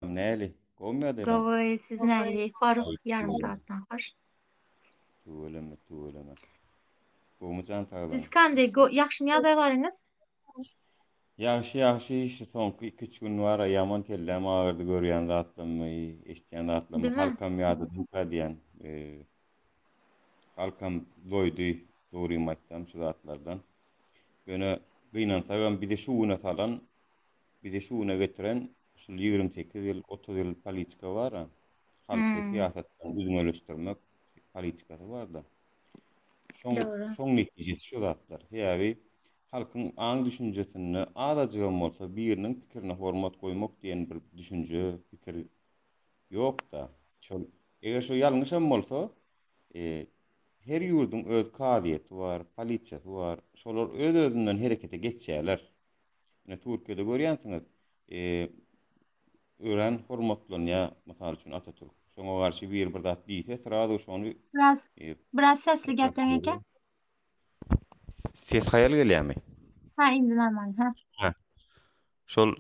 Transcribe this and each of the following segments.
Näli? Gowymy ýa-da ýalam? Gowy, siz näli? Hor, ýarym sagatdan hor. Tüweleme, tüweleme. Gowumy jan saglygyň? Siz kande, go, ýagşymy ýagdaýlaryňyz? Ýagşy, ýagşy, şu soňky iki-üç gün bar-a, ýaman kelläm agyrdy, görýän zatlarymy, eşitýän zatlarymy, Dime? halkam ýadadymka diýýän. Halkam doýdy, dogrymy aýtsam, şu zatlardan. Ýöne gynansagam bizi şu güne salan, bizi şu güne getiren Şul ýigrimi sekiz ýyl, otuz ýyl politika bar-a. Halky syýasatdan üzňeleşdirmek politikasy bar-da. Şoň, şoň netijesi şu zatlar. Sebäbi halkyň aň-düşünjesinde azajygam bolsa biriniň pikirine hormat goýmak diýen bir düşünje, pikir ýok-da. Şol, eger şo ýalňyşam bolsa, e, her ýurduň öz kazyýeti bar, polisiýasy bar. Şolar öz-özünden herekete geçýärler. Ine Türkiýede görýänsiňiz, örän hormatlanýar, mysal üçin Atatürk. Şoňa garşy biri bir zat diýse, srazu şony Biraz, biraz sesli gepleň eken. Ses haýal gelýärmi? Ha, indi normal, ha. Şol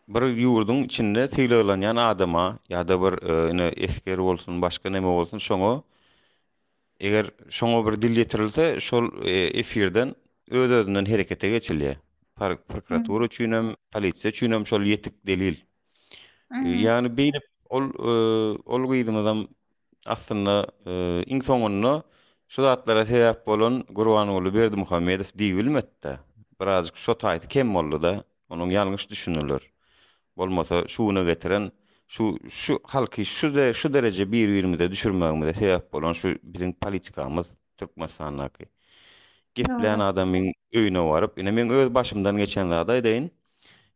bir ýurduň içinde sylaglanýan adama ýa-da bir ine esger bolsun, başga näme bolsun şoňa eger şoňa bir dil ýetirilse şol efirden öz-özünden herekete geçilýär. Prokuratura üçin hem, polisiýa üçin hem şol ýetik delil. Ýagny beýle ol e, ol gyzymyzam aslynda e, iň soňunda şu zatlara sebäp bolan Gurbanguly Berdimuhamedow diýilmedi-de. Birazjyk şo taýy kem boldy-da, onuň ýalňyş düşüniler. Bolmasa şu güne getiren şu şu halky şu şu dereje bir-birimize düşürmegimize sebäp bolan şu biziň politikamyz. Türkmenistandaky. Geplän adamyň öýüne baryp, ine meň öz başymdan geçen zady aýdaýyn.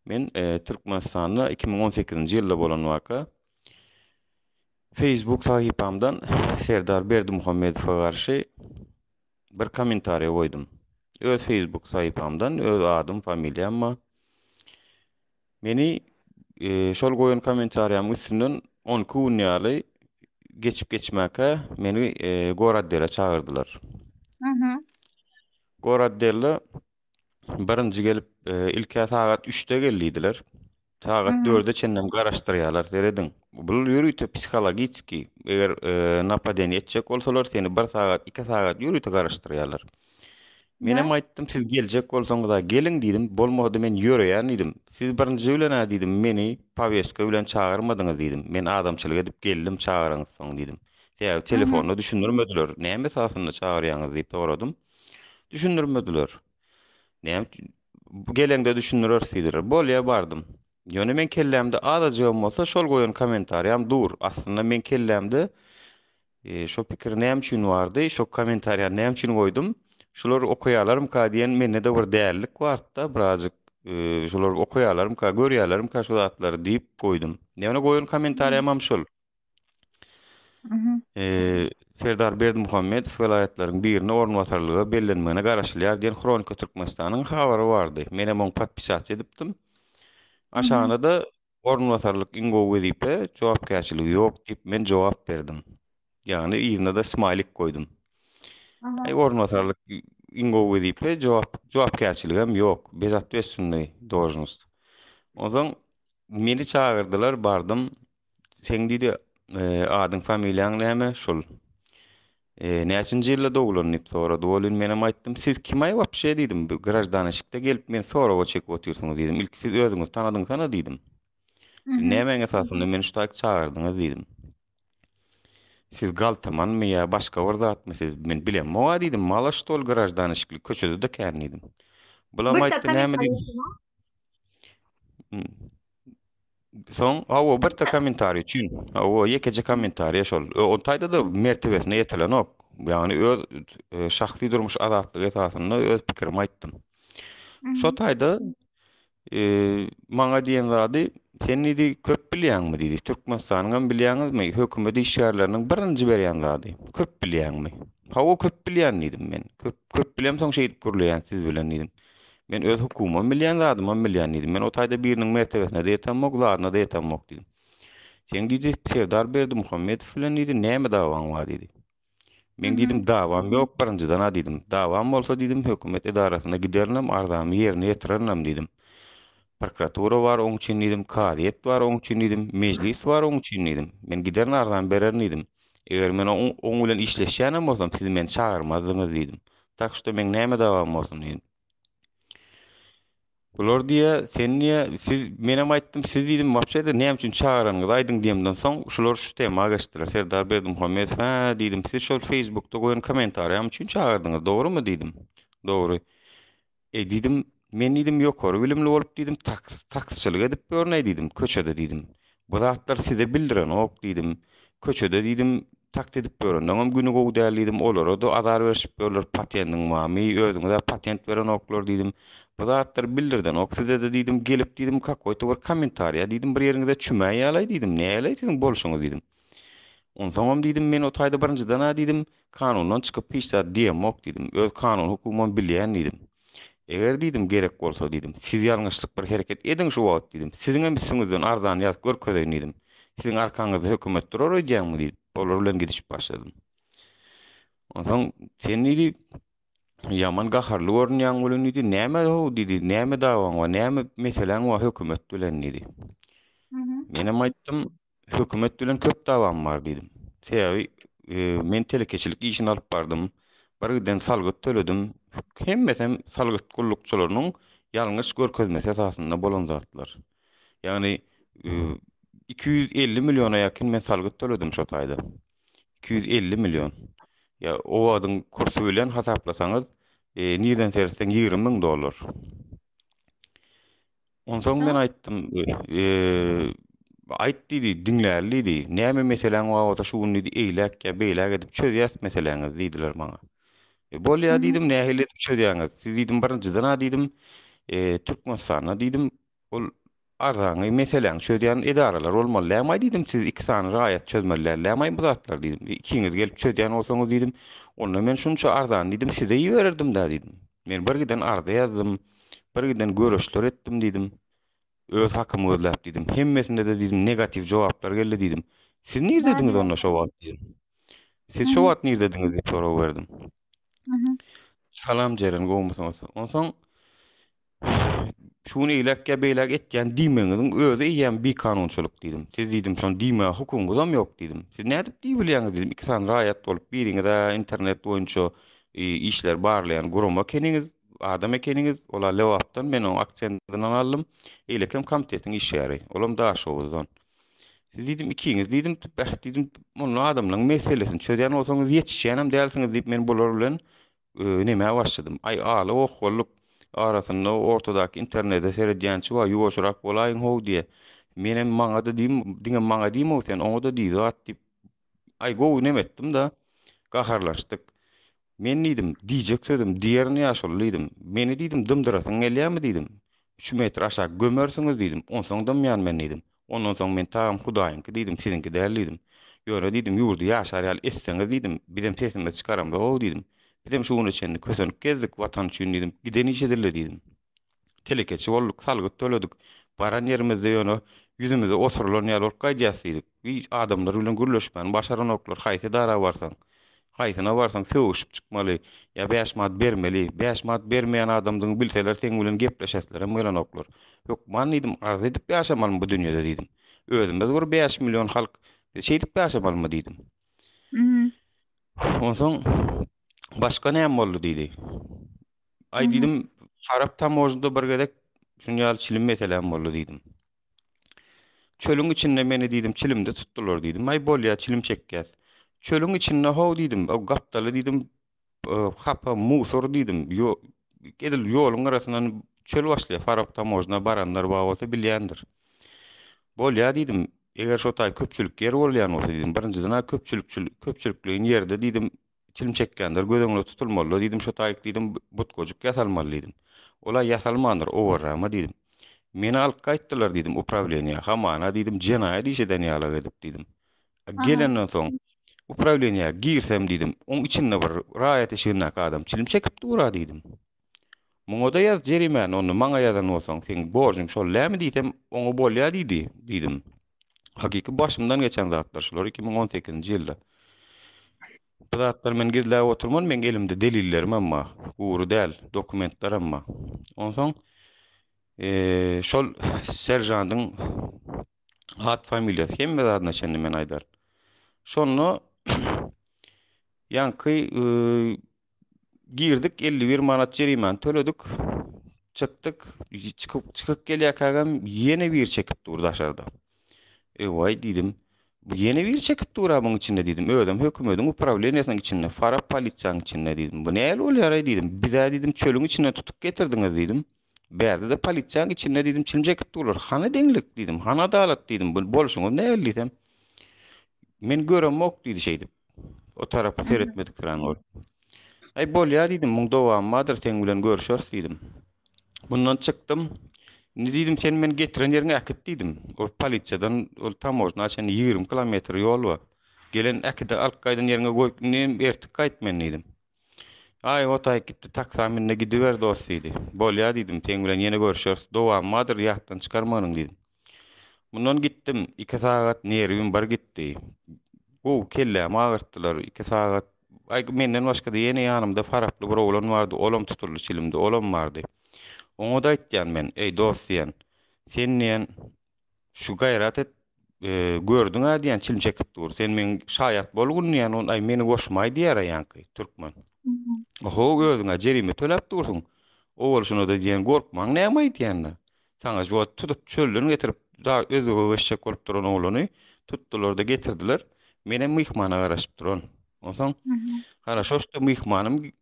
Men Türkmenistanda iki müň on sekizinji ýylda bolan waka, Facebook sahypamdan Serdar Berdimuhamedowa garşy bir kommentariý goýdum. Öz Facebook sahypamdan, öz adym, familiýam bar. Meni şol goýan komentariýamyň üstünden on iki gün ýaly geçip geçmäkä meni Goraddele çagyrdylar. Goraddele birinji gelip ilkä sagat üçde gel diýdiler. Sagat dörde çenlem garaşdyrýarlar, serediň. Bul ýörite psihologiki, eger e, napadeniýe etjek bolsalar, seni bir sagat, iki sagat ýörite garaşdyrýarlar. Menem aýtdym, siz geljek bolsaňyz-a geliň diýdim, bolmasa-da men ýöreýän diýdim. Siz birinji bilen-ä diýdim, meni powestka bilen çagyrmadyňyz diýdim. Men adamçylyk edip geldim çagyraňyzsoň diýdim. Sebäbi telefonda düşündirmediler. Näme esasynda çagyrýaňyz diýip soradym. Düşündirmediler. Näme geleňde düşündireris diýdiler. Bolýa bardym. Ýöne meň kellämde azajygam bolsa şol goýan kommentariýam dur. Aslynda meň kellämde Şo pikir näme üçin bardy, şo kommentariýany näme üçin goýdum? Şulary okaýalarmyka diýen mende-de bir dälilik bardy-da birazjyk. Şulary okaýalarmyka, görýälermika şu zatlary diýip goýdum. Ýöne goýan kommentariýam hem şol. Serdar Berdimuhamedow welaýatlaryň birine orunbasarlyga bellenmegine garaşylýar diýen Hronika Türkmenistanyň habary bardy. Men hem oňa podpisat edipdim. Aşagyna-da Orunbasarlyk iň gowy wezipe, jogapkärçiligi ýok diýip men jogap berdim. Ýagny yzyna-da smaýlik goýdum. Aý orunbasarlyk iň gowy wezipe, jogap jogapkärçiligem ýok, bezotwestwnnyý dožnost. Onsoň meni çagyrdylar, bardym. Seň diýdi, adyň-familiýaň näme? Şul. Näçinji ýylda doglan? diýip sorady. Welin, menem aýtdym, Siz kim-aý wapşe? diýdim. Bu graždan eşikde gelip, meni soraga çekip otyrsyňyz, diýdim. Ilki siz özüňizi tanadyňsana, diýdim. Siz nämäň esasynda meni şu taýyk çagyrdyňyz? diýdim. Siz galtamanmy ýa başga bir zatmy siz? Men bilemok-a, diýdim. Mala ştol graždan eşikli, köçede-de kän, diýdim. Bulam aýtdy, näme diýdi? Soň hawa bir tek kommentariý üçin. Hawa ýekeje kommentariý şol. O taýda da mertebesine ýetilenok. Ýagny öz e, şahsy durmuş azatlygy esasynda öz pikirimi aýtdym. Şo taýda e, maňa diýen zady sen diýdi köp bilýäňmi diýdi. Türkmenistanyň hem bilýäňizmi? Hökümet işgärleriniň birinji berýän zady. Köp bilýäňmi? Hawa köp bilýän diýdim men. Köp köp bilemsoň şeýdip gürleýän siz bilen diýdim. Men öz hukumam bilýän, zadymam bilýän, diýdi. Men o taýda biriniň mertebesine-de ýetemok, zadyna-da ýetemok, diýdi. Seň, diýdi, serdar Berdimuhamedow bilen, diýdi, näme dawaň bar, diýdi. Men diýdim, dawam ýok, birinjiden-ä, diýdim. Dawam bolsa, diýdim, hökümet edarasyna giderinem, arzamy ýerine ýetirerenem, diýdim. Prokuratura bar oň üçin, diýdim, kazyýet bar oň üçin, diýdim, mejlis bar oň üçin, diýdim. Men giderin, arzamy bererin, diýdim. Eger men oň bilen işleşýänem bolsam, siz meni çagyrmazdyňyz diýdim. Tak şto meň näme dawam bolsun diýdim. Bular diýe, sen diýe, siz menem aýtdym, siz diýdim, wapşe-de näme üçin çagyranyňyzy aýdyň diýemden soň, şular şu tema geçdiler. Serdar Berdimuhamedow, hä, diýdim, siz şol feýsbukda goýan kommentariýam üçin çagyrdyňyz, dogrumy diýdim. Dogry. Eý, diýdim, men diýdim, ýokary bilimli bolup diýdim, taksçylyk edip ýörnäý diýdim, köçede diýdim. Bu zatlar size bildirenok diýdim. Köçede diýdim, taksi edip ýörenleňem güni gowy däl diýdim, olara-da azar berşip ýörler, patendiň barmy, özüňiz-ä patent berenoklar diýdim. Bu zatlar bildirdenok size-de diýdim, gelip diýdim, kakoýta bir kommentariýa diýdim, bir ýeriňize çümäýälaý diýdim, näýäläý siziň bolşuňyz diýdim. Onsoňam diýdim, men o taýda birinjiden-ä diýdim, kanundan çykyp hiç zat diýemok diýdim, öz kanun hukumymy bilýän diýdim. Eger diýdim, gerek bolsa diýdim, siz ýalňyşlyk bir hereket ediň şu wagt diýdim, siziňem üstüňizden arzany ýazyp görkezeýin diýdim. Siziň arkaňyzda hökümet durar öýdýäňmi diýip, olar bilen gidişip başladym. Onsoň sen diýdi, ýaman gaharly görünýäň welin diýdi, näme-how diýdi, näme dawaň bar, näme meseläň bar hökümet bilen diýdi. Menem aýtdym, Hökümet bilen köp dawam bar diýdim. Sebäbi men telekeçilik işini alyp bardym. Birgiden salgyt töledim. Hemmesem salgyt gullukçylarynyň ýalňyş görkezmesi esasynda bolan zatlar. Ýagny 250 milliona ýakyn men salgyt töledim şo taýda. 250 million. Ýa o wagtyň kursy bilen hasaplasaňyz, nirden seretseň 20 müň dollar. Onsoň men aýtdym, Aýt diýdi, diňläli diýdi. Näme meseläň bar bolsa şu gün diýdi, eýläk ýa beýläk edip çözýäs meseläňizi diýdiler maňa. Bolýa diýdim, nähili edip çözýäňiz? Siz diýdim, birinjiden-ä diýdim, Türkmenistanda diýdim, ol arzaňy, meseläňi çözýän edaralar bolmaly dälmi-aý diýdim, siz iki sany raýat çözmeli dällämi-aý bu zatlary diýdim. Ikiňiz gelip çözýän bolsaňyz diýdim, onda men şunça arzany diýdim, size ibererdim-dä diýdim. Men bir giden arza ýazdym. Bir giden göreçler etdim diýdim. Öz hakymy gözläp diýdim. Hemmesinde-de diýdim negatiw jogaplar geldi diýdim. Siz nirdediňiz onda şo wagt diýdim. Siz şo wagt nirdediňiz diýip sorag berdim. Salam Jeren gowmysyňyz? Onsoň şuny eýläk ýa beýläk etýän diýmegiňiziň özi eýýäm bikanunçylyk diýdim. Siz diýdim şony diýmäge hukugyňyz hem ýok diýdim. Siz nädip diýbilýäňiz diýdim. Iki sany raýat bolup biriňiz-ä internet boýunça işler barlaýan gurama keniňiz. adam ekeniňiz, ol-a Lebapdan, men onuň aksendinden aldym, eýlekem komitetiň işgäri, olam Daşoguzdan. Siz diýdim, ikiňiz diýdim, beh diýdim, munla adamlaryň meselesini çözýän bolsaňyz, ýetişýänem dälsiňiz diýip, men bular bilen nemä başladym. Aý, aly okgallyk arasynda ortadaky internede seredýänçi bar, ýuwaşyrak bolaýyň-how diýýä. Menem maňa-da diýdim, diňe maňa diýme-ow sen, oňa-da diý zat diýip, aý, gowy nem etdim-da, gaharlaşdyk. Men diýdim, Diýjek sözüm, diýerin ýa şol diýdim. Meni diýdim, dymdyrasyň gelýärmi diýdim. Üç metr aşak gömersiňiz diýdim, onsoň dymýan men diýdim. Ondan soň men tagam Hudaýyňky diýdim, siziňki däl diýdim. Ýöne diýdim, ýurdy ýaşar ýaly etseňiz diýdim, bizem sesimizi çykaramzok-ow diýdim. Bizem şu güne çenli kösenip gezdik, Watan üçin diýdim, giden işe dille diýdim. Telekeçi bolduk, salgyt töledik. Baran ýerimizde ýöne ýüzümize osurylan ýaly bolup gaýdýas diýdik. Hiç adamlar bilen gürleşmäni başaranoklar. Haýsy edara barsaň, haýsyna barsaň sögüşip çykmaly, ýa bäş manat bermeli. Bäş manat bermeýän adamdygyňy bilseler seň bilen gepleşeslerem gelenoklar. Hökman diýdim, arz edip ýaşamalymy bu dünýede diýdim. Özümiz bir bäş million halk, biz şeýdip ýaşamalymy diýdim. Onsoň başga näme boldy diýdi. Aý diýdim, şarap tamojnada bir gezek şuny ýaly çilim meselem boldy diýdim. Çölüň içinde meni diýdim, çilimde tutdular diýdim. Aý bolýa, çilim çekýäs. Çölüň içinde how diýdim, o gapdaly diýdim, hapa musor diýdim. Ýo, edil ýoluň gyrasyndan çöl başlaýar. Farap tamojna baranlar bar bolsa bilýändir. Bolýa diýdim, eger şo taý köpçülik ýer bolýan bolsa diýdim, birinjiden köpçülikçil, köpçülikleýin ýerde diýdim, çilim çekýänler göz öňünde tutulmalydyr diýdim, şo taýyk diýdim, butkajyk ýasalmaly diýdim. Ol-a ýasalmandyr, owarrama diýdim. Meni alyp gaýtdylar diýdim uprawleniýä, hamana diýdim, jenaýat iş eden ýalak edip diýdim. A gelenden soň uprawleniýä girsem diýdim, oň içinde bir raýat eşigindäki adam çilim çekip dur-a diýdim. Muňa-da ýaz jerimäni, onda maňa ýazan bolsaň, seň borjuň şol dämi diýsem, oňa bolýa diýdi, diýdim. Hakyky başymdan geçen zatlar şular iki müň on sekizinji ýylda. Bu zatlary men gizläp oturman, meň elimde delillerim hem bar. Gury däl, dokumentler hem bar. Onsoň şol seržandyň at familiýasy hemme zadyna çenli men aýdaryn. Şonda ýaňky girdik 51 manat jerimany töledik. Çykdyk, çykyp çykyp gelýärkäm ýene bir çekip dur daşarda. Ewaý diýdim. Bu ýene bir çekip dur abyň içinde diýdim. Özüm hökümetiň uprawleniýesiniň içinde, fara polisiýanyň içinde diýdim. Bu näl bolýar diýdim. Bizä diýdim çölüň içinde tutup getirdiňiz diýdim. Bärde-de polisiýaň içinde diýdim, çilim çekip durlar. Hany deňlik diýdim, hany adalat diýdim, bu bolşuňyz nähili diýsem. Men göremok diýdi şeýdip. O tarapa seretmedik duran bolup. Aý bolýar diýdim, muň dowamy bardyr, seň bilen görüşeris diýdim. Bundan çykdym. Indi diýdim, sen meni getiren ýeriňe äkit diýdim. Ol polisiýadan ol tamojna çenli 20 kilometr ýol bar. Gelen äkiden alyp gaýdan ýeriňe goý, indi ertik gaýt men diýdim. Aý, Hotaýyk gitdi, taksa min-de gidiber, dost, diýdi. Bolýa, diýdim, seň bilen ýene görüşeris, dowamy bardyr, ýatdan çykarmagynyň, diýdim. Mundan gitdim, iki sagat nerwim bir gitdi. Gowy, kellämi agyrtdylar, iki sagat. Aý, menden başga-da ýene ýanymda faraply bir oglan bardy, olam tutuldy çilimde, olam bardy. Oňa-da aýtýan men, Eý, dost diýen, sen diýen, Şu gaýrat et, gördüň-ä diýýän çilim çekip dur. Sen meň şaýat bol gün diýýän, ol aý meni goşmaý diýýär ýaňky türkmen. Oho özüň-ä jerime töläp dursuň. Owalşyna-da diýýän gorkmaň näme aýdýanda. Saňa şu wagt tutup çölden getirip da özüge eşek bolup duran oglany tutdular-da getirdiler. Menem myhmana garaşyp duran. Onsoň Haraşo şda myhmanym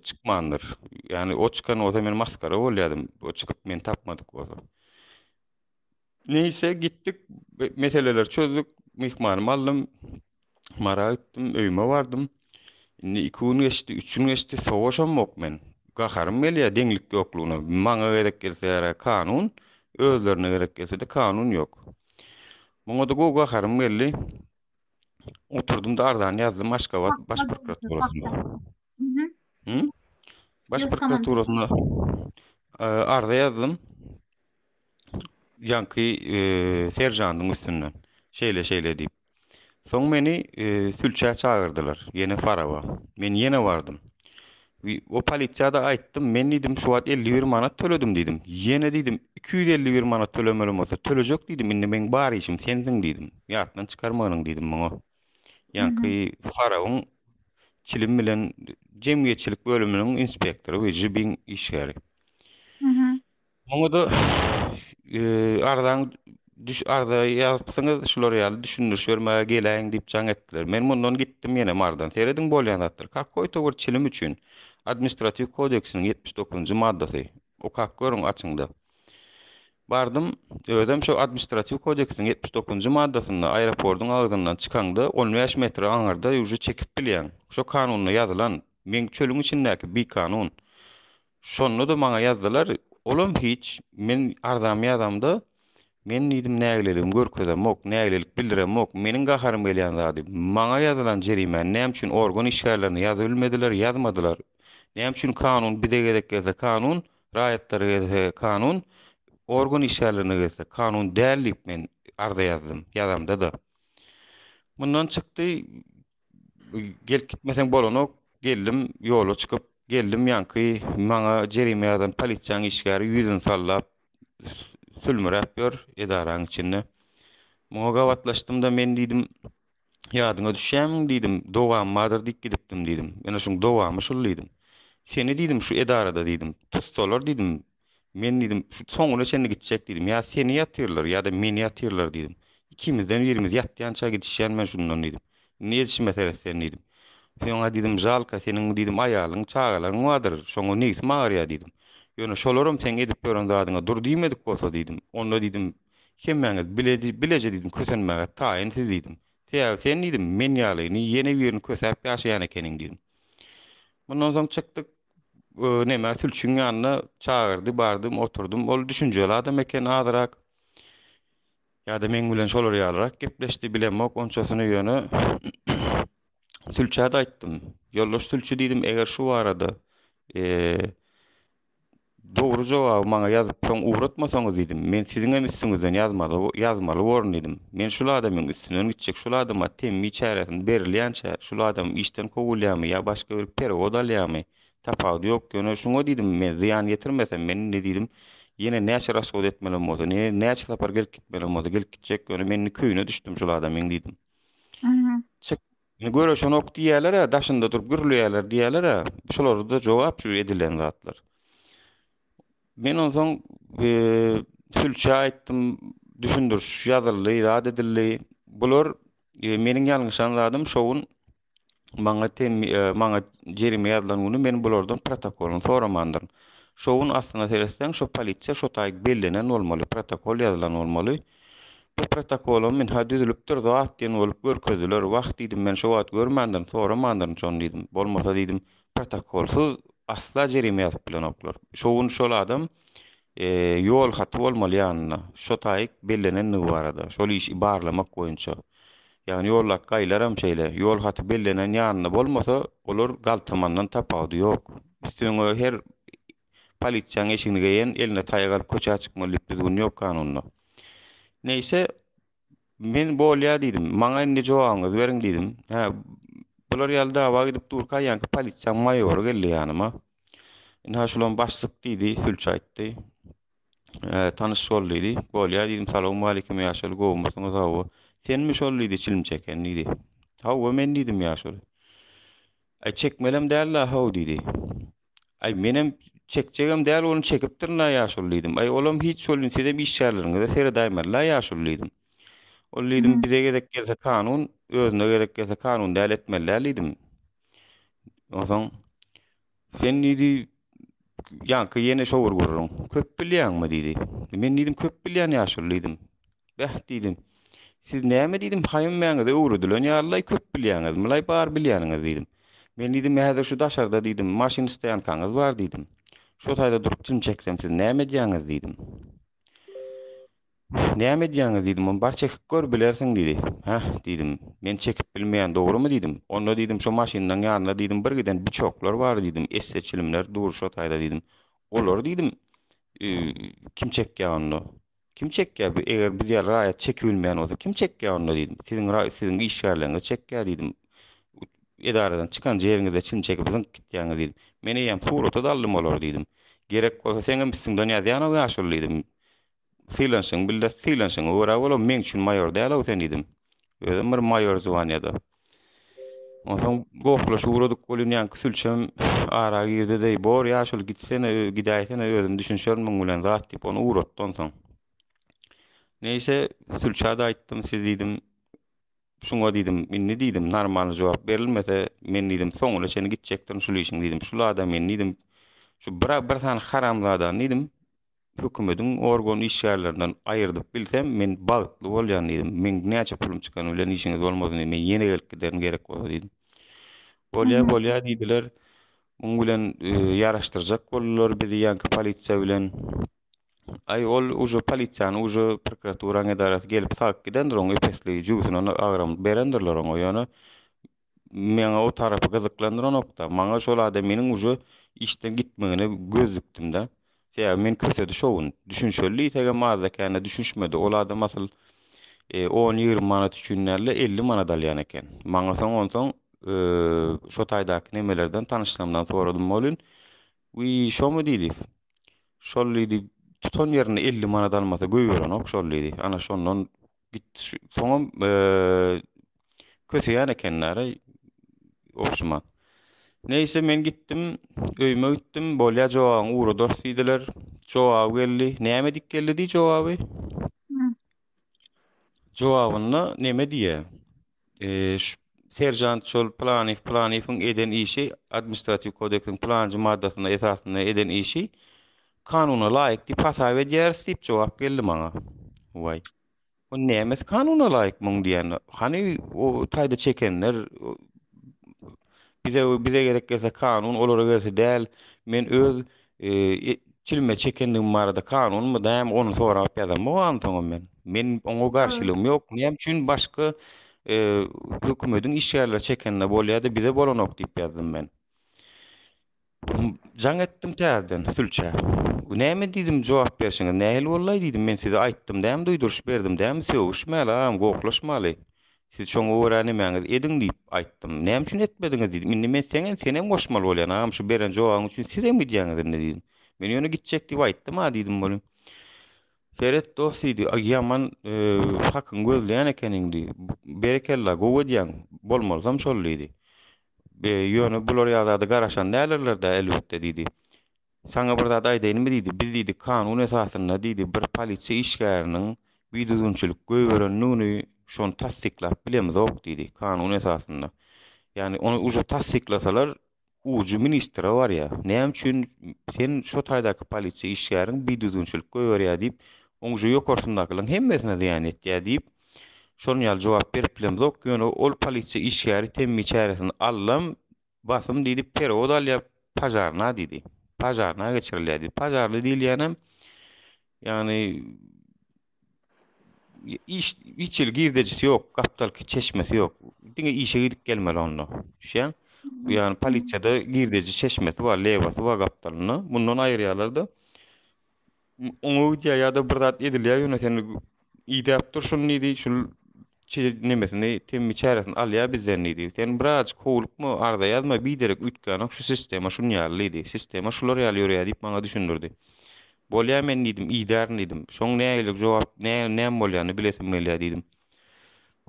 çykmandyr. Ýagny o çykan bolsa men masgara bolýardym. O çykyp meni tapmadyk bolsa. Neýse gitdik, meseleleri çözdük, myhmanymy aldym, Mara gitdim, öýüme bardym. Indi iki gün geçdi, üç gün geçdi, sowaşam yok men. Gaharym gelýär deňlik ýoklugyna. Maňa gerek gelse ýara kanun, özlerine gerek gelse-de kanun yok. Muňa-da gowy gaharym geldi. Oturdym-da arzany ýazdym Aşgabat baş prokuraturasynda. Baş prokuraturasyna arza ýazdym. Ýanky serjandyň üstünden. Şeýle şeýle diýip. Soň meni sülçä çagyrdylar. Ýene Farawa. Men ýene bardym. O polisiýada aýtdym. Men diýdim, şu wagt 51 manat töledim diýdim. Ýene diýdim, 251 manat tölemeli bolsa tölejek diýdim. Indi meň bar işim sensiň diýdim. Ýatdan çykarmanyň diýdim muňa. Ýaňky Farabyň çilim bilen jemgyýetçilik bölüminiň inspektory we JBIN işgäri. Muňa-da arzaň düş arza ýazypsyňyz, şular ýaly düşündiriş bermäge geläýiň diýip jaň etdiler. Men mundan gitdim ýene Mardan. Serediň bolýan zatlar. Kakoýta bir çilim üçin Administratiw kodeksiniň ýetmiş dokuzynjy maddasy. Okap görüň açyňda. Bardym, özem şo Administratiw kodeksiň ýetmiş dokuzynjy maddasynda aeropordyň agzyndan çykaňda on bäş metre aňyrda ýuwjy çekip bilýäň. Şo kanunda ýazylan. Meň çölüň içindäki bikanun. Şonda-da maňa ýazdylar, olam hiç, men arzamy ýazamda, Men diýdim nägileligimi görkezemok, nägilelik bildiremok. Meniň gaharym gelýän zady, maňa ýazylan jerimäni näme üçin organ işgärlerine ýazybilmediler, ýazmadylar. Näme üçin kanun bize gezek gelse kanun, Raýatlara gelse kanun, organ işgärlerine gelse kanun däl diýip men arza ýazdym. Ýazamda-da. Mundan çykdy, gelip gitmeseň bolanok, geldim, ýola çykyp, geldim ýaňky maňa jerime ýazan polisiýanyň işgäri ýüzüni sallap, sülmüräp ýör edaraň içinde. Muňa gabatlaşdym-da men diýdim, Ýadyňa düşýämiň diýdim, dowam bardyr diýip gidipdim diýdim. Ýöne şuň dowamy şul diýdim. Seni diýdim şu edarada diýdim, tutsalar diýdim, men diýdim şu soňuna çenli gitjek diýdim. Ýa seni ýatyrlar, ýa-da meni ýatyrlar diýdim. Ikimizden birimiz ýatýança gidişýän men şundan diýdim. Indi edişime seret sen diýdim. Söňa diýdim žalka seniň diýdim aýalyň, çagalaryň bardyr, şoňa nebsim agyrýa diýdim. Ýöne şolaram seň edip ýören zadyňa dur diýmedik bolsa diýdim, onda diýdim Hemmäňiz biledi, bileje diýdim, kösenmäge taýyn siz diýdim. Sebäbi sen diýdim, men ýalyny ýene birini kösäp ýaşaýan ekeniň diýdim. Mundan soň çykdyk, nämä sülçüň ýanyna çagyrdy, bardym, oturdym. Ol düşünjeli adam eken azyrak. Ýa-da meň bilen şolar ýalyrak gepleşdi, bilemok onçasyny ýöne sülçä-de aýtdym. Ýoldaş sülçi diýdim, eger şu barada, eee, Dogry jogaby maňa ýazyp soň ugratmasaňyz diýdim. Men siziňem üstüňizden ýazmaly ýazmaly borun diýdim. Men şul adamyň üstünden gitjek şul adama temmi çäresini berilýänçä şul adam işden kowulýamy ýa başga bir perewod alýamy tapawdy ýok ýöne şuňa diýdim men zyýan ýetirmesem men indi diýdim ýene näçe rasgod etmelem bolsa ne näçe sapar gelip gitmelem bolsa gelip gitjek ýöne men indi köýüne düşdüm şul adamyň diýdim. Çyk Ine göreşenok diýýäler-ä, daşynda durup gürleýärler diýýäler-ä, şularda jogap şu edilen zatlar. Men onsoň sülçä aýtdym, düşündiriş ýazyldy, zat edildi. Bular meniň ýalňyşan zadym şo gün maňa maňa jerime ýazylan güni men bulardan protokolyny soramandyryn. Şo gün aslyna seretseň şo polisiýa şo taý bellenen bolmaly, protokol ýazylan bolmaly. Bu protokolam ynha düzülipdir zat diýen bolup görkezdiler. Wah diýdim men şo wagt görmändirin, soramandyryn şony diýdim. Bolmasa diýdim protokolsyz asla jerime ýazyp bilenoklar. Şo gün şol adam ýol haty bolmaly ýanynda, şo taýyk bellenendigi barada, şol işi barlamak boýunça. Ýagny ýoldaky gaýylaram şeýle, ýol haty bellenen ýanynda bolmasa olar galtamandan tapawudy ýok. Üstüňe her Polisiýaň eşigini geýen, eline taýak alyp köçä çykmaly diýip düzgün ýok kanunda. Neýse, men bolýa diýdim. Maňa indi jogabyňyzy beriň diýdim. Hä, bular ýaly dawa gidip durka ýaňky polisiýaň maýory geldi ýanyma. Indi ha şulam başlyk diýdi, sülçi aýtdy. Hä, tanyş bol diýdi. Bolýa diýdim. Salawmaleýkim ýaşuly, gowumysyňyz hawa. Senmi şol diýdi, çilim çeken diýdi. Hawa men diýdim ýaşuly. Aý çekmelem däl-la haw diýdi. Aý, menem çekjegem däl, ony çekipdirin-ä, ýaşuly diýdim. Aý, olam hiç welin, sizem işgärleriňize seredäýmeli-ä, ýaşuly diýdim. Ol diýdim, bize gezek gelse kanun, özüne gezek gelse kanun däl etmeli-ä diýdim. Onsoň, Sen diýdi, ýaňky ýene şowur gürrüň. Köp bilýäňmi diýdi. Men diýdim, köp bilýän ýaşuly diýdim. Bäh, diýdim. Siz näme diýdim, haýymmäňize öwredilen ýalylaý köp bilýäňizmilaý, bar bilýäniňiz diýdim. Men diýdim, häzir şu daşarda diýdim, maşyn stoýankaňyz bar diýdim. Şo taýda durup jyn çeksem siz näme edýäňiz diýdim. Näme edýäňiz diýdim, ony bar çekip gör, bilersiň diýdi. Häh, diýdim. Men çekip bilmeýän, dogrymy diýdim. Onda diýdim, şo maşynlaň ýanynda diýdim, bir giden biçoklar bar diýdim, esse çilimler dur şo taýda diýdim. Olary diýdim, kim çekýä onda? Kim çekýär bu eger biz ýaly raýat çekibilmeýän bolsa kim çekýär onda diýdim siziň raý siziň işgärleriňiz çekýär diýdim edaradan çykan jeriňizde çyn çekip zyňk gitýäňiz diýdim men eýýäm surata daldym olary diýdim gerek bolsa seňem üstüňden ýazýanow ýaşuly diýdim sylanyşyň bilde sylanyşyňa görä bol o meň üçin maýor dälow sen diýdim özem bir maýor zwanýada. Onsoň gohlaşyp ugradyk welin ýaňky sülçem ara girdi deý, Bor, ýaşuly, gitsene, gidäýsene, özüm düşünşerin muň bilen, zat diýip, ony ugratdy onsoň. Neýse, sülçä-de aýtdym, siz diýdim, şuňa diýdim, indi diýdim, normalny jogap berilmese, men diýdim, soňuna çenli gitjekdirin şul işiň diýdim, şul adam men diýdim, şu bir sany haramzadany diýdim, hökümediň organ işgärlerinden aýyrdyp bilsem men bagtly bolýan diýdim. Meň näçe pulum çykany bilen işiňiz bolmasyn diýdim. Men ýene gelip giderin gerek bolsa diýdim. Bolýa bolýa diýdiler. Muň bilen ýaraşdyrjak boldular bizi ýanki polisiýa bilen. Aý ol uje polisiýany uje prokuraturaň edarasy gelip sagyp gidendir oň epesligi jübüsine agram berendirler oňa ýöne Meni o tarapy gyzyklandyranok-da. Maňa şol adam meniň uje işden gitmegine göz dikdim-de. Sebäbi men kösedi şo gün. Düşünşeli diýsegem azda-kände düşünişmedi. Ol adam asyl on-ýigrimi manat üçin däl-de, elli manat alýan eken. Maňa soň onsoň şo taýdaky nemelerden tanyşlarymdan soradym welin, Wiý, şomy diýdi. Şol diýdi, tutan ýerinde elli manat almasa goýberenok şol diýdi. Ana şondan Gitdi şu. Soňam eee köseýän ekenler-ä ogşuma. Neýse men gitdim, öýüme gitdim. Bolýa jogabyňy ugradars diýdiler. Jogaby geldi. Näme diýip geldi diý jogaby? Jogabynda neme diýýä? Ş. Seržant şol Pylanyýew Pylanyýewiň eden işi Administratiw kodeksiň pylanjy maddasyna esasynda eden işi kanuna laýyk diýip hasap edýäris diýip jogap geldi maňa. Waý. O nämesi kanuna laýyk muň diýen. Hany o taýda çekenler bize bize gerek gelse kanun olara gelse däl men öz Türmä çekendigim barada kanunmy, näme ony sorap ýazamok ansoňam men. Men oňa garşylygym ýok. Näme üçin başga hökümetiň işgärleri çekende bolýar-da, bize bolanok diýip ýazdym men. Jaň etdim täzeden sülçä. Näme diýdim jogap berşiňiz, nähili bollaý diýdim, men size aýtdym dämi, duýduryş berdim dämi, sögüşmäli agam, gohlaşmaly. Siz şoňa görä nämäňizi ediň diýip, aýtdym. Näme üçin etmediňiz diýdim. Indi men seňem, senem goşmaly bolýan, agam şu beren jogabyň üçin sizem gidýäňiz indi diýdim. Men ýöne gitjek diýip aýtdym-a diýdim welin, Seret dost diýdi, ýaman hakyňy gözleýän ekeniň diýdi. Berekella, gowy edýäň, bolmalysam şol diýdi. Ýöne bular ýa zada garaşan dälirler-dä elbetde diýdi. Saňa bir zat aýdaýynmy diýdi, biz diýdi kanun esasynda diýdi bir polisiýa işgäriniň bidüzgünçilik göýberendigini şony tassyklap bilemizok diýdi kanun esasynda. Ýagny ony uje tassyklasalar ujy ministre barýa. Näme üçin sen şo taýdaky polisiýa işgäriň bidüzgünçilik göýberýä diýip oň uje ýokarsyndakylryň hemmesine zyýan ýetýä diýip şonuň ýaly jogap berip bilemizok ýöne ol polisiýa işgäri temmi çäresini allam Basym diýlip perewod alýar, pažarna diýdi. Pažarna geçirilýär diýdi. Pažarly diýilýänem, ýagny iş hiç hili girdejisi ýok, gapdalky çeşmesi ýok. Diňe işe gidip gelmeli onda. Düşýäň? Ýagny polisiýada girdeji çeşmesi bar, lewasy bar gapdalynda. Mundan aýyrýarlar-da. oňa gidýär ýa-da bir zat edilýär ýöne sen idäp dur şuny diýdi şul nemesini temmi çäresini alýar bizden diýdi sen biraz howlukma arza ýazma biderek üýtgänok şu sistema şun ýaly diýdi sistema şular ýaly ýörýär diýip maňa düşündirdi bolýar men diýdim idärin diýdim şoň nägilik jogap näm bolýany bilesim gelýär diýdim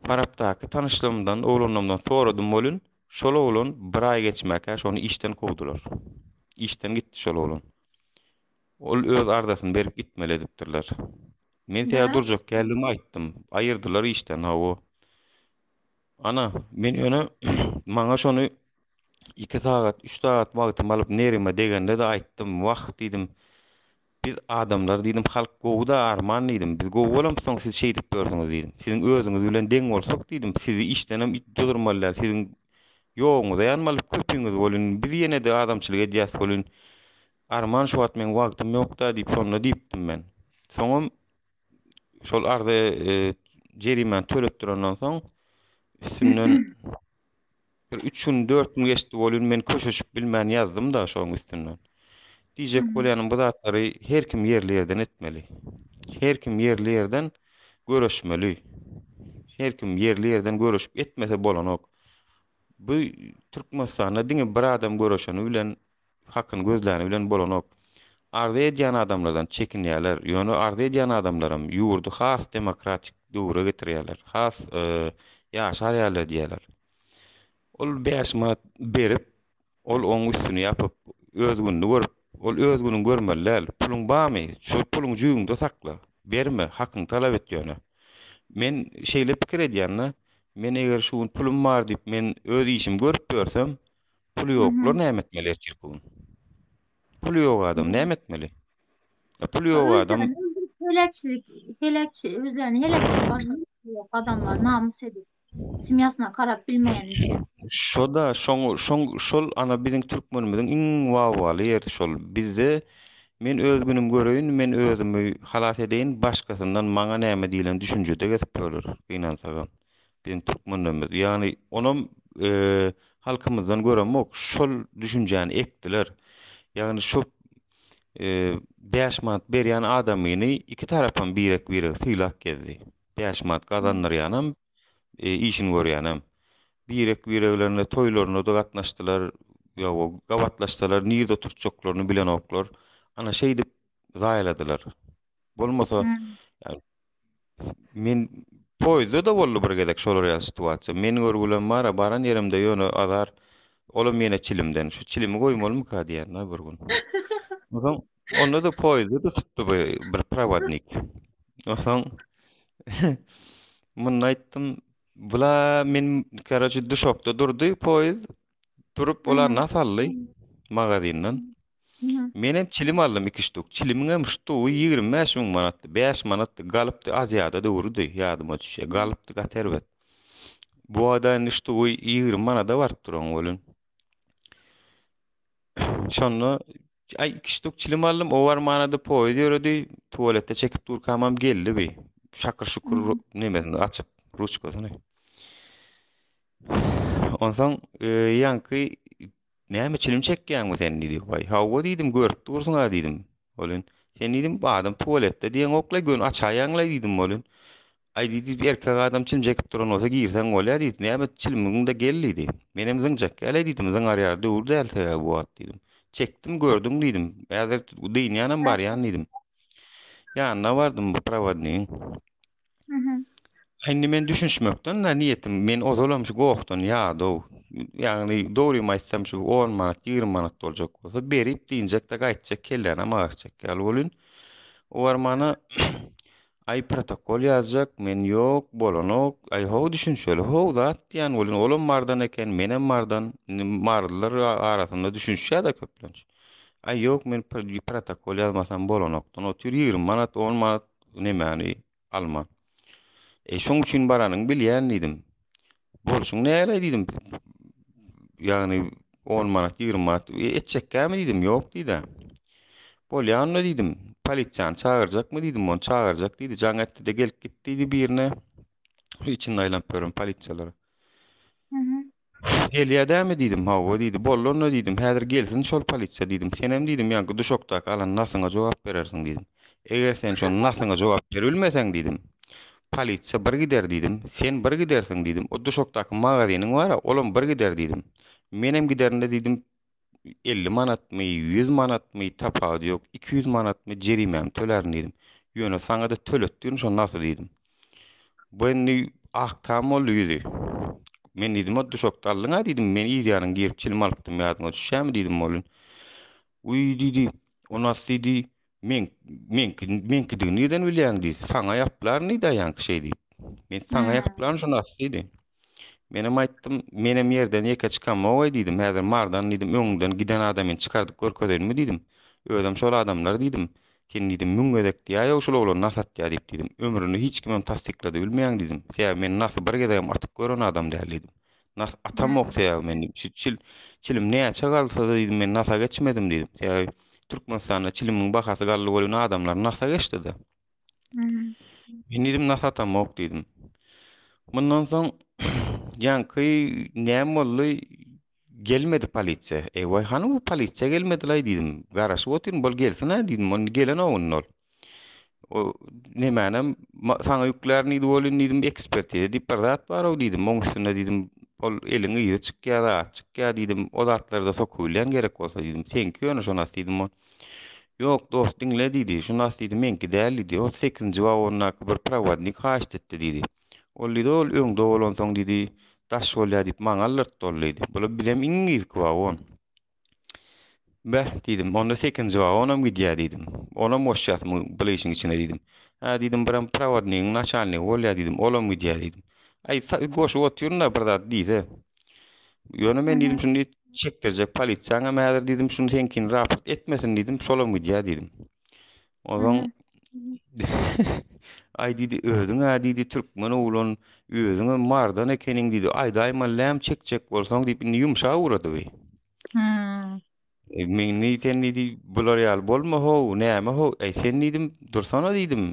farapdaky tanyşlarymdan oglanlarymdan soradym bolin şol oglan bir aý geçmäkä şony işden kowdular işden gitdi şol oglan Ol öz arzasyny berip gitmeli edipdirler. Men sähel durjak däldigimi aýtdym. Aýyrdylar işden, hawa. Ana, men ýöne maňa şony iki sagat, üç sagat wagtymy alyp nerime degende-de aýtdym. Wah, diýdim, biz adamlar, diýdim, halk gowy-da, arman, diýdim. Biz gowy bolamyzsoň siz şeýdip ýörsiňiz, diýdim. Siziň özüňiz bilen deň bolsak, diýdim, sizi işdenem duzurmaly däl, siziň ýoguňyza ýanmaly köpiňiz bolun, biz ýene-de adamçylyk edýäs bolun. Arman şu wagt meň wagtym ýokda diýip şonda diýipdim men. Soňam şol arza jerimäni tölep durandan soň üstünden bir üç gün dört gün geçdi bolýun men köşeşip bilmän ýazdym da şoň üstünden. Diýjek bolýanym bu zatlary her kim ýerli ýerden etmeli. Her kim ýerli ýerden göreşmeli. Her kim ýerli ýerden göreşip etmese bolanok. Bu Türkmenistanda diňe bir adam göreşeni bilen hakyny gözläni bilen bolanok. Arza edýän adamlardan çekinýäler, ýöne arza edýän adamlaram ýurdy has demokratik döwre getirýäler, has ýaşar ýaly diýýäler. Ol bäş manat berip, ol oň üstüni ýapyp, öz gününi görüp, ol öz günüňi görmeli däl. Puluň barmy, şol puluňy jübüňde sakla, berme, hakyňy talap et ýöne. Men şeýle pikir edýän-de, men eger şu gün pulum bar diýip, men öz işimi görüp ýörsem, Pul ýoklar näme etmeli ertir bu gün? Pul ýok adam näme etmeli? E, pul ýok adam Heleçlik, heleç, özlerini heleçlik başyny ýok adamlar namys edip, semýasyna karap bilmeýän üçin. Şoda, şoň, şoň, şol ana biziň türkmenimiziň iň wawaly ýeri şol. Bizde men öz günüm göreýin, men özümi halas edeýin, başgasyndan maňa näme diýlen düşünjede gezip ýörler, gynansagam. Biziň türkmenlerimiz ýagny onam halkymyzdan göremok şol düşünjäni ekdiler. Ýagny şu bäş manat berýän adamyny iki tarapam birek biregi sylap gezdi. Bäş manat gazandyrýanam işini görýänem. Birek bireglerine toýlarynada gatnaşdylar ýa-o gabatlaşsalar nirde oturtjaklaryny bilenoklar. Ana şeýdip zaýaladylar. Bolmasa Men poýzda-da boldy bir gezek şolar ýaly situasiýa. Meniň görgülem bar-a, baran ýerimde ýöne azar, olam ýene çilimden. Şu çilimi goýmalymyka diýen-ä bir gün. Onsoň, onda-da poýzda-da tutdy bir, bir prowodnik. Onsoň, munda aýtdym, bula men, karoçi, duşakda durdy poýz, Durup olar Aha. nas aldy magazindan. Mhm. Men hem çilim aldym iki ştuk. Çilimiň hem ştugy 25 müň manatdy. 5 manatdy. Galypdy Aziýada döwrüdi ýadyma düşýär. Galypdy gaty erbet. Bu wada indi ştugy 20 manada baryp duran bolun. Şonda ay iki ştuk çilim aldym. O var manada poýuz ýöredi. Tuwaletde çekip durkam hem geldi bi. Şakyr şukur Mhm. nemesini açyp ruçkasyny. Onsoň ýaňky näme çilim çekýäňmi sen diýdi. Waý, hawa diýdim, görüp dursuň-a diýdim. Bolin, sen diýdim, adam tuwaletde diýeňoklaý, göni açaýaňlaý diýdim bolin. Aý diýdi, erkek adam çilim çekip duran bolsa girseň bolýa diýdi. Näme çilimiňde gel diýdi. Menem zyň çekýälaý diýdim, zyňarýar döwür däl sebä bu wagt diýdim. Çekdim, gördüň diýdim. Häzir dynýanam barýan diýdim. Ýanyna bardym bu prowodnigiň. Indi men düşünişmekden da niýetim, men ozalam şu gokdan ýadow. Ýagny dogrymy aýtsam şu 10 manat, 20 manat boljak bolsa berip diýinjek de gaýtjak kellänem agyrtjak ýaly bolýn. O barmana aý protokol ýazjak, men ýok, bolanok. Aý how düşünişeli, how zat diýen bolýan. Olam mardan eken, menem mardan. Indi marlylar arasynda düşünişýär-de köplenç. Aý ýok, men protokol ýazmasam bolanokdan otyr, 20 manat, 10 manat nemäni alma. E, şoň üçin baranyny bilýän diýdim. Bolşuň näle diýdim. Ýagny 10 manat, 20 manat e, etjekkämi diýdim. Ýok diýdi. Bolýar onda diýdim. Polisiýany çagyrjakmy diýdim. Ony çagyrjak diýdi. Jaň etdi-de gelip gitdi diýdi birine. Içinde aýlanyp ýörün polisiýalar. Gelýär dämi diýdim. Hawa diýdi. Boldy onda diýdim. Häzir gelsin şol polisiýa diýdim. Senem diýdim ýaňky duşakdaky alan nasyňa jogap berersiň diýdim. Eger sen şo nasyňa jogap beribilmeseň diýdim. Polisiýa bir gider diýdim. Sen bir gidersiň diýdim. O duşakdaky magaziniň bar-a, olam bir gider diýdim. Menem giderin-de diýdim. elli manatmy, ýüz manatmy, tapawudy ýok, iki ýüz manatmy jerimämi tölärin diýdim. Ýöne saňa-da töletdirin, şony nasy diýdim. Bu indi ak tam boldy ýüzi. Men diýdim, o duşakda aldyň-a diýdim, men ýerýanyň girip çilim alypdym, ýadyňa düşýämi diýdim, Molin. Uý diýdi, o nasy diýdi, Men, meňki, meňkidigini nirden bilýäň diýdi. Saňa ýaplaryn diýdi aýaňky şeý diýip. Men saňa ýaplaryn şuny as diýdi. Menem aýtdym, menem ýerden ýeke çykamogaý diýdim. Häzir mardan diýdim, öňüňden giden adamyny çykardyp görkezeýinmi diýdim. Özem şol adamlar diýdim. Sen diýdim, müň gezek diýäýow şol oglan nas atýa diýip diýdim. Ömründe hiç kimem tassyklady bilmeýäň diýdim. Sebäbi men nasy bir gezegem atyp gören adam däl diýdim. Nas atamok sebäbi men diýdim. Şu çil çilim näçe galsa diýdim men nasa geçmedim diýdim. Sebäbi Türkmenistanda çilimiň bahasy galdy bolýan adamlar nasa geçdi-de. Men diýdim nasa atamok diýdim. Mundan soň ýanky näme boldy? Gelmedi polisiýa. Eý, hany bu polisiýa gelmedi-laý diýdim. Garaşyp otyryn, bol gelsin-ä diýdim. Onda gelen owunda ol. O nemänem saňa ýüklärin diýdi welin diýdim ekspertize diýip bir zat bar-ow diýdim. Oň üstünde diýdim ol eliň yzy çykýar, zat çykýar diýdim. O zatlarda sokubilýän gerek bolsa diýdim. Seňki ýöne şonas diýdim ol. Ýok dost diňle diýdi. Şonas diýdi meňki däl diýdi. Ol sekizinji wagondaky bir prowodnik haýyşt etdi diýdi. Ol diýdi ol öňde bolansoň diýdi daş bolýar diýip maňa aldyrtdy ol diýdi. Bula bizem iň yzky wagon. Beh, diýdim, onda sekinji wagonam gidýär, diýdim. Olam goşýarsyň bul işiň içine, diýdim. Hä, diýdim, birem prowodnigiň naçalnigi bolýar, diýdim, olam gidýär, diýdim. Aý, sa-y goşup otyryn-da, bir zat diýse. Ýöne men, diýdim, şuny çekdirjek polisiýaňam häzir, diýdim, şuny seňkini raport etmesin, diýdim, şolam gidýär, diýdim. Ozan Ay diýdi, özüň-ä diýdi, türkmen oglan, özüňe mardan ekeniň diýdi. Aýdaýma läm çekjek bolsaň diýip, indi ýumşa ugrady bi. Hmm. E, men ne sen diýdi, bular ýaly bolma ho, näme ho, e, sen diýdim, dursana diýdim.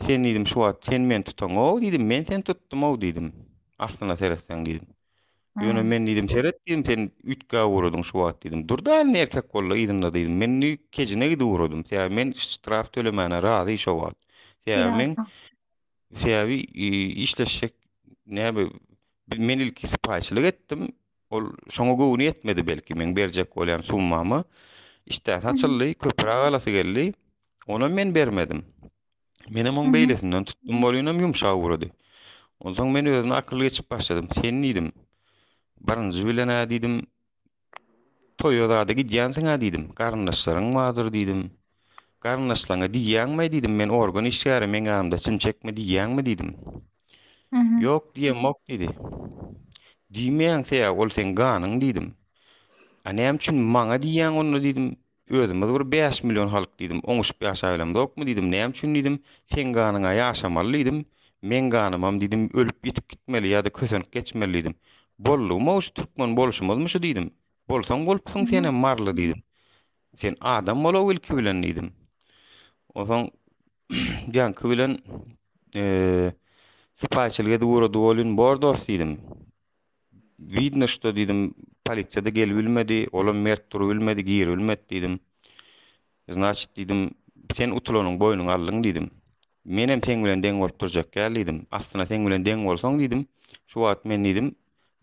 Sen diýdim, şu wagt sen men tutaňok diýdim, men sen tutdum-ow diýdim. Aslynda seretseň diýdim. Ýöne men diýdim, seret diýdim, sen üýtgäp ugradyň şu wagt diýdim. Durda indi erkek boldy, yzynda diýdim. Men indi kejine gidip ugradym. Sebäbi men ştraf tölemäne razy şo wagt. Sebäbi men sebäbi işleşjek näbi men ilki sypaýyçylyk etdim. Ol şoňa göwni ýetmedi belki men berjek bolýan summama. Işdäsi açyldy, köpräk alasy geldi. Onam men bermedim. Menem oň beýlesinden tutdum bolýunam ýumşak ugrady. Onsoň men özüme akyl geçip başladym. Sen diýdim. Birinji bilen-ä diýdim. Toýa zada gidýänsiň-ä diýdim. Garyndaşlaryň bardyr diýdim. Garyndaşlaňa diýýäňmi diýdim. Men organ işgäri, meň ýanymda çim çekme diýýäňmi diýdim. Ýok diýemok diýdi. Diýmeýäň-se ýa ol seň ganyň diýdim. A näme üçin maňa diýýäň onda diýdim. Özümiz bir bäş million halk diýdim, oňuşyp ýaşaýlamzokmy diýdim, näme üçin diýdim, seň ganyňa ýaşamaly diýdim, meň ganymam diýdim, ölüp-ýitip gitmeli ýa-da kösenip geçmeli diýdim. Boldugym-ow şu türkmen bolşumyzmy şu diýdim. Bolsaň bolupsyň senem maryly diýdim. Sen adam bol-ow ilki bilen diýdim. Onsoň Janki bilen sypaýyçylyk edip ugrady welin bor dost diýdim. Widno što diýdim, polisiýa-da gelibilmedi, olam mert durubilmedi, giribilmedi diýdim. Znaçit diýdim, sen utulanyň boýnuňa aldyň diýdim. Menem seň bilen deň bolup durjak däl diýdim. Aslynda seň bilen deň bolsaň diýdim, şu wagt men diýdim,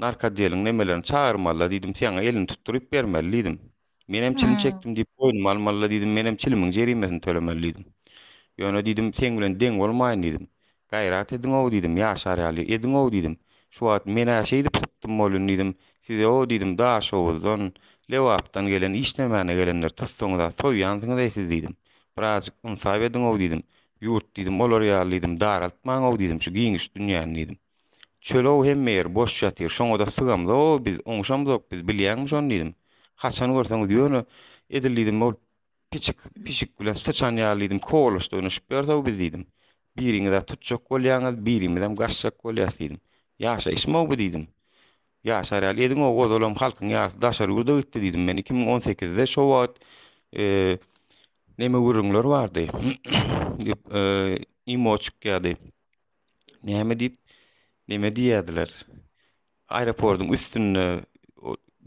narkadeliň nemelerini çagyrmaly-da diýdim, saňa elini tutduryp bermeli diýdim. Menem çilim çekdim diýip boýnuma almaly-la diýdim, menem çilimiň jerimesini tölemeli diýdim. Ýöne diýdim, seň bilen deň bolmaýyn diýdim. Gaýrat ediň-ow diýdim, ýaşar ýaly ediň-ow diýdim. Şu wagt men-ä şeýdip sypdym bolýn diýdim, size-ow diýdim, Daşoguzdan, Lebapdan gelen işlemäne gelenleri tutsaňyz-a soýýansyňyz-eý siz diýdim. Birazjyk ynsap ediň-ow diýdim. Ýurt diýdim, olar ýaly diýdim, daraltmaň-ow diýdim şu giňiş dünýäni diýdim. Çöl-ow hemme ýer boş ýatyr, şoňa-da sygamzok biz, oňuşamzok biz, bilýäňmi şony diýdim. Haçan görseňiz ýöne edil diýdim ol piçik pişik bilen syçan ýaly diýdim kowalaşyp oýnaşyp ýörs-ow biz diýdim. Biriňiz-ä tutjak bolýaňyz, birimizem gaçjak bolýas diýdim. Ýaşaýyşmy-ow bu diýdim. Ýaşar ýaly ediň-ow, ozalam halkyň ýarysy daşary ýurda gitdi diýdim men iki müň on sekizde şo wagt neme gürrüňler bardy. Imo çykýardy. Näme diýip, neme diýýärdiler? Aeroportyň üstünde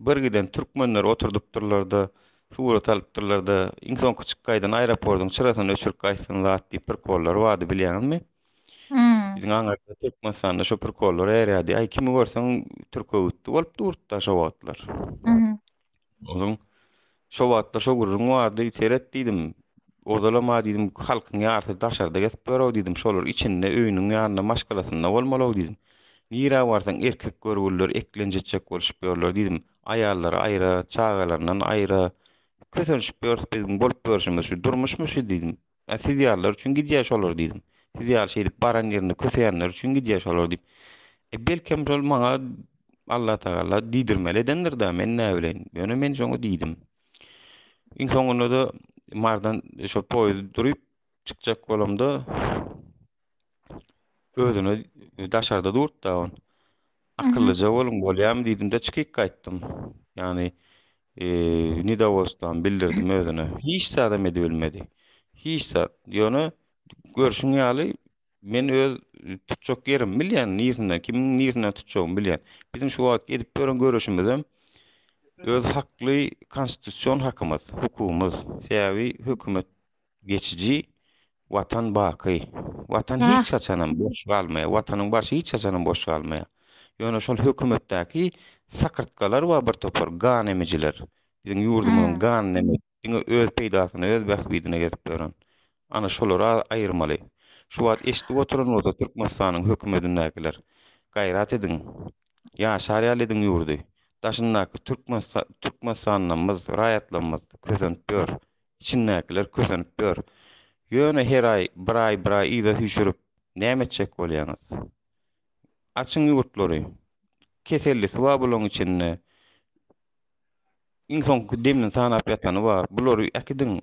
bir giden türkmenler oturdypdyrlar-da, surat alypdyrlar-da, iň soňky çykgaýdan aeroportyň çyrasyny öçürip gaýtsyn zat diýip prikollar bardy, bilýäňizmi? Biziň aňyrda Türkmenistanda şo prikollar erýärdi. Aý, kimi görseň türk öwütdi bolup durdy-da şo wagtlar. Onuň Şo wagtlar şo gürrüň bardy, seret diýdim. Ozalam-a diýdim, halkyň ýarysy daşarda gezip ýör-ow diýdim, şolar içinde, öýüniň ýanynda, maşgalasynda bolmaly-ow diýdim. Nirä barsaň erkek görgüliler eklenç etjek bolşup ýörler diýdim. Aýallary aýra, çagalaryndan aýra. Kösenişip ýörüs biz, bolup ýörşümiz şu durmuşmy şu diýdim. A siz ýalylar üçin gidýär şolar diýdim. Siz ýaly şeýdip baran ýerinde köseýänler üçin gidýär şolar diýip. E belkem şol maňa Allah tagalla diýdirmeli edendir da men näbileýin. Ýöne men şoňa diýdim. Iň soňunda da mardan şo poýuz durup çykjak bolamda Özüne daşarda durt da on. Akyllyja boluň bolýam diýdim-de çykyk gaýtdym. Ýagny eee nidawostam bildirdim özüne. Hiç zadam edibilmedi. Hiç zat. Ýöne görşüň ýaly men öz tutjak ýerimi bilýän, niresinden, kimiň niresinden tutjagymy bilýän. Biziň şu wagt edip ýören göreşimizem öz hakly konstitusion hakymyz, hukugymyz. Sebäbi hökümet geçiji, Watan baky. Watan hiç haçanam boş galmaýar. Watanyň başy hiç haçanam boş galmaýar. Ýöne şol hökümetdäki sakyrtgalar bar bir topar, gan emijiler. Biziň ýurdumyzyň ganyny emip, diňe öz peýdasyna, öz bähbidine gezip ýören. Ana, şolary aýyrmaly. Şu wagt eşidip oturan bolsa Türkmenistanyň hökümedindäkiler, gaýrat ediň. Ýaşar ýaly ediň ýurdy. Daşyndaky Türkmenistanlymyz, raýatlarymyz kösenip ýör. Içindäkiler kösenip ýör. Ýöne her aý bir aý bir aý yza süýşürip näme etjek bolýaňyz? Açyň ýurtlary. Kesellisi bar bulaň içinde. Iň soňky demini sanap ýatany bar. Bulary äkidiň.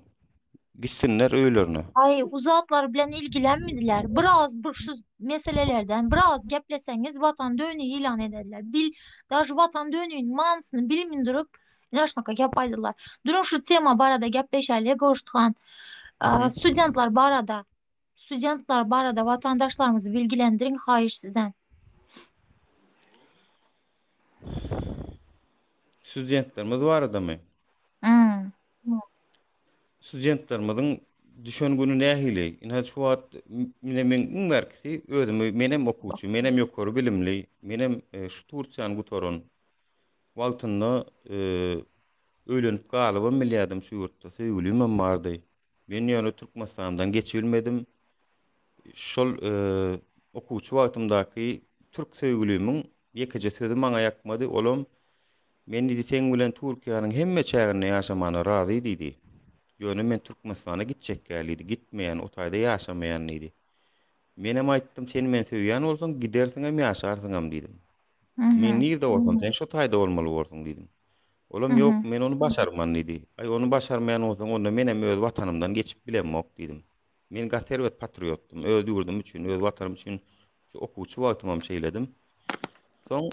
Gitsinler öýlerine. Aý u zatlar bilen ilgilenmediler. Biraz bir şu meselelerden biraz gepleseňiz watan döni ilan edediler. Bil daž watan dönini manysyny bilmin durup Ýaşnykka gep aýdylar. Dürüň şu tema barada gepleşäýle Goşt han. Studentler barada studentler barada watandaşlarymyzy bilgilendirin haýyş sizden. Studentlerimiz baradamy? Studentlerimiziň düşen güni nähili? Ine şu wagt mine men iň berkisi özümi menem okuwçy, menem ýokary bilimli, menem e, şu Tursiýany gutaran Wagtynda öýlenip galybam bilýärdim şu ýurtda, söýgülimem bardy. Men ýöne Türkmenistandan geçibilmedim. Şol okuwçy wagtymdaky türk söýgülimiň ýekeje sözi maňa ýakmady, olam, Men diýdi, seň bilen Türkiýäniň hemme çäginde ýaşamana razy diýdi. Ýöne men Türkmenistana gitjekkä diýdi, gitmeýän, o taýda ýaşamaýan diýdi. Menem aýtdym, sen meni söýýän bolsaň, gidersiňem, ýaşarsyňam diýdim. Men nirde bolsam, sen şo taýda bolmaly borsuň diýdim. Olam ýok, men ony başarman diýdi. Aý, ony başarmaýan bolsaň, onda menem öz Watanymdan geçip bilemok diýdim. Men gaty erbet patriotdym, öz ýurdum üçin, öz Watanym üçin şu okuwçy wagtymam şeýledim. Soň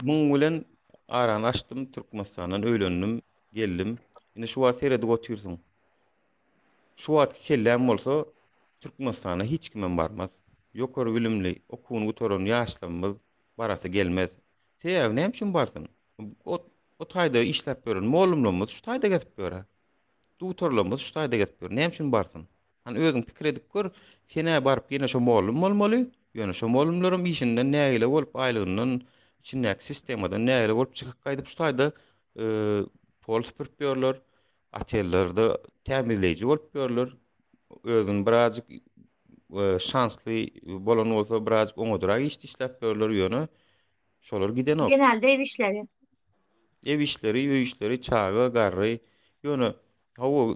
muň bilen arany açdym, Türkmenistandan öýlendim, geldim. Indi şu wagt seredip otyrsyň. Şu wagtky kelläň bolsa Türkmenistana hiç kimem barmaz. Ýokary bilimli, okuwyny gutaran ýaşlarymyz barasy gelmez. Sebäbi näme üçin barsyn? O taýda işläp ýören mollumlarymyz şu taýda gezip ýör-ä. Dutarlarymyz şu taýda gezip ýör. Näme üçin barsyn? Hany özüň pikir edip gör, sen-ä baryp ýene şo mollum bolmaly, ýöne şo mollumlaram işinden nägile bolup, aýlygyndan, içindäki sistemadan nägile bolup çykyp gaýdyp şu taýda pol süpürip ýörler. Otellerde tämizleýji bolup ýörler. Özüni birazjyk şansly bolan bolsa birazjyk oňadyrak iş işläp ýörler ýöne şolar gidenok. Genelde ew işleri. Ew işleri, öý işleri, çaga, garry. Ýöne hawa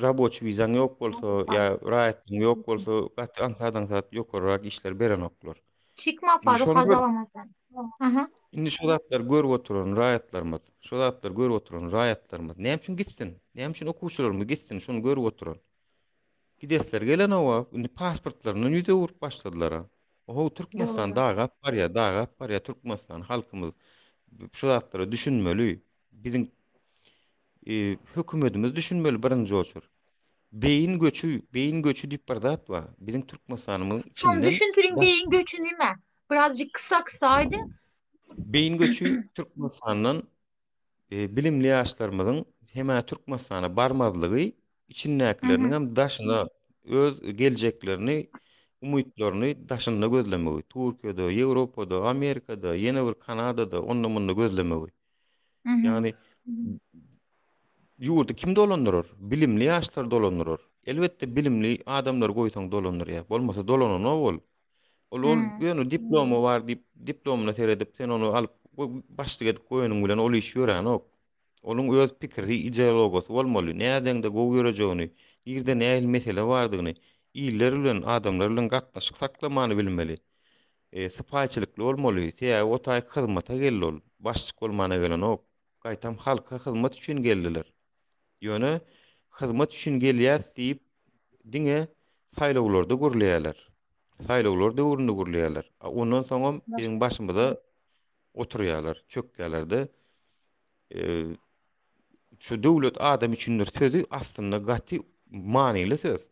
raboçi wizaň ýok bolsa ýa raýatlygyň ýok bolsa gaty aňsat-aňsat ýokarrak işler berenoklar. Çykma Indi Faruk şony gör. hazalamasyn. Aha. Indi şu zatlar görüp oturan raýatlarymyz, şu zatlar görüp oturan raýatlarymyz näme üçin gitsin? Näme üçin okuwçylarymyz gitsin şuny görüp oturan? Gidesler gelen oba, indi pasportlaryndan ýüz öwürip başladylar. ha. Oho, Türkmenistan Dogry. dagap barýar, dagap barýar Türkmenistan halkymyz. Şu zatlara düşünmeli. Biziň Hökümetimiz düşünmeli birinji oçur. Beýin göçi, beýin göçi diýip bir zat bar. Biziň Türkmenistanymyň içinden Şony düşündiriň beýin göçi nime? Birazjyk kysa-kysa aýdyň. Beýin göçi Türkmenistandan bilimli ýaşlarymyzyň hem-ä Türkmenistana barmazlygy, içindäkileriniň hem daşyna öz geljeklerini, umytlaryny daşynda gözlemegi, Türkiýede, Ýewropada, Amerikada, ýene bir Kanadada, onda-munda gözlemegi. Ýagny ýurdy kim dolandyrar? Bilimli ýaşlar dolandyrar. Elbetde bilimli adamlar goýsaň dolandyrýar. Bolmasa dolananok ol. Ol ol ýöne diplomy bar diýip, diplomyna seredip, sen ony alyp başlyk edip goýanyň bilen ol iş ýöränok. Onuň öz pikiri, ideologiýasy bolmaly. Nädeňde gowy ýörejegini, nirde nähili mesele bardygyny, iller bilen, adamlar bilen gatnaşyk saklamany bilmeli. Sypaýyçylykly bolmaly, sebäbi o taýy hyzmata geldi ol, başlyk bolmana gelenok, gaýtam halka hyzmat üçin geldiler. Ýöne hyzmat üçin gelýäs diýip diňe saýlawlarda gürleýärler. Saýlawlar döwründe gürleýärler. A ondan soňam biziň başymyza oturýarlar, çökýärler-de. Şu döwlet adam üçindir sözi aslynda gaty manyly söz.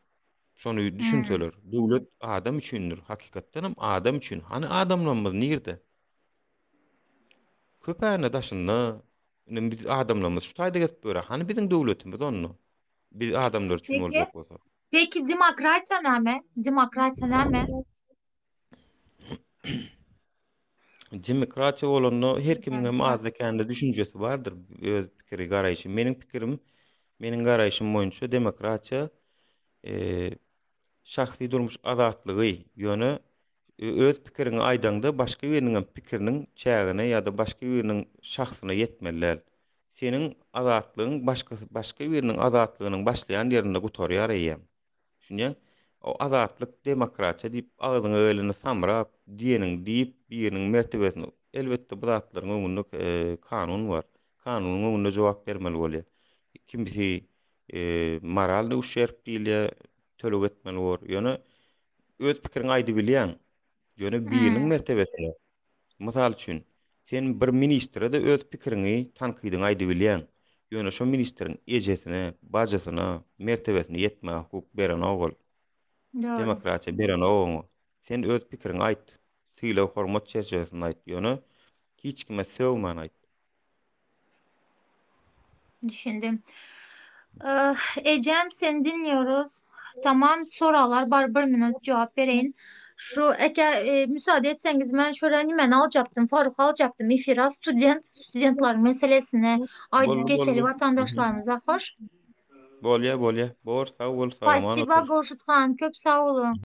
Şony Hmm. düşünseler. Döwlet adam üçindir. Hakykatdan hem adam üçin. Hany adamlarymyz nirde? Köpäni daşynda. Indi biz adamlarymyz şu taýda gezip ýöre. Hany biziň döwletimiz onda? Biz adamlar üçin Peki. boljak bolsa. Peki demokratiýa näme? Demokratiýa näme? demokratiýa bolanda her kimiň hem azda kände düşünjesi bardyr, öz pikiri, garaýşy. Meniň pikirim, meniň garaýşym boýunça demokratiýa e, şahsy durmuş azatlygy, ýöne e, öz pikirini aýdaňda başga biriniň hem pikiriniň çägine ýa-da başga biriniň şahsyna ýetmeli däl. Seniň azatlygyň başga başga biriniň azatlygynyň başlaýan ýerinde gutarýar eýýäm. Düşünýäň? O azatlyk, demokratiýa diýip agzyňa geleni samrap, diýeniňi diýip, biriniň mertebesini, elbetde bu zatlaryň öňünde kanun bar. Kanunyň öňünde jogap bermeli bolýar. Kimsi moralnyý uşerp diýilýär, töleg etmeli bor. Ýöne öz pikiriňi aýdybilýäň. Ýöne biriniň mertebesini Mysal üçin, sen bir ministre-de öz pikiriňi, tankydyňy aýdybilýäň, ýöne şo ministriň ejesine, bajysyna, mertebesine ýetmäge hukuk berenok ol. Dogry. Demokratiýa berenok oňa. Sen öz pikiriňi aýt, sylag-hormat çerçewesinde aýt, ýöne hiç kime sögmän aýt. Düşündim. Eh, ejem sen dinýoruz. Tamam, soraglar bar, bir minut jogap bereýin. Şu eke e, müsaade etseňiz men şöyle nimeni aljakdym, Faruk aljakdym efira student, studentler meselesini aydyp Boldy, geçeli boldy. vatandaşlarymyza hoş. Bolýa, bolýa. Bor, sag bol, Spasiba salamat. Gurşut han, köp sag boluň.